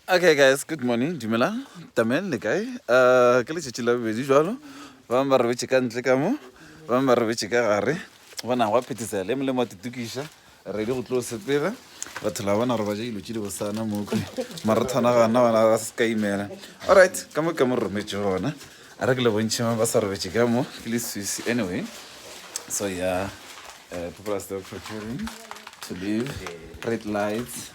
Okay guys, good morning, dumelang, tamen le kae? Uh, ke letšatši la bobedi jalo, bang ba robetše ka ntle ka mo, bang ba robetše ka gare, bona gwa phetisa le molemo wa tutukiša, ready go tlo sepela, batho la bona roba ja dilo tše di bosana mo kwe, marathona ga nna bona ga se ka imela. All right, ka mo ka mo rometše gona, a re ke le bontšhe mang ba sa robetše ka mo, ke le swisi anyway. So yeah, uh, people are still preparing to leave, red lights.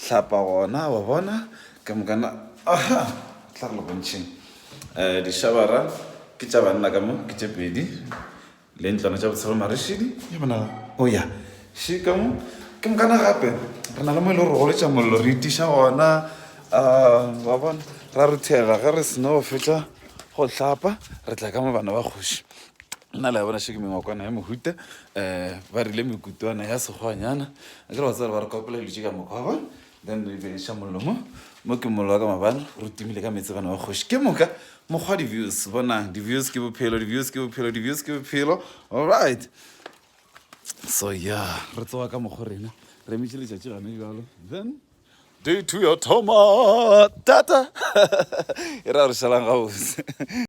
hlapa gona wa bona ka mokana aha tla go le bontšheng um dishabara ke tša banna ka mo ke tše pedi le ntlwana tša botshelo marešidi ya bona o ya še ka mo ke mokana gape re na le mo e le gore go letša mollo re itiša gona um wa bona ra ruthega ge re sena go fetša go hlapa re tla ka mo bana ba kgoši nna le ya bona še ke mengwakwana ya mohuta um ba rile mekutwana ya sekgwanyana Akere wa tseba re ka opela dilo tše ka moka wa bona then re beša mollo mo mo ke mollo wa ka mabana re timile ka meetse bana ba kgoši ke moka mokgwa di-views bonang di-views ke bophelo di-views ke bophelo di-views ke bophelo alright so ya re tsoga ka mokgwa rena re emetše letšatši gane jalo then day two ya thoma tata e ra re šalang gabotse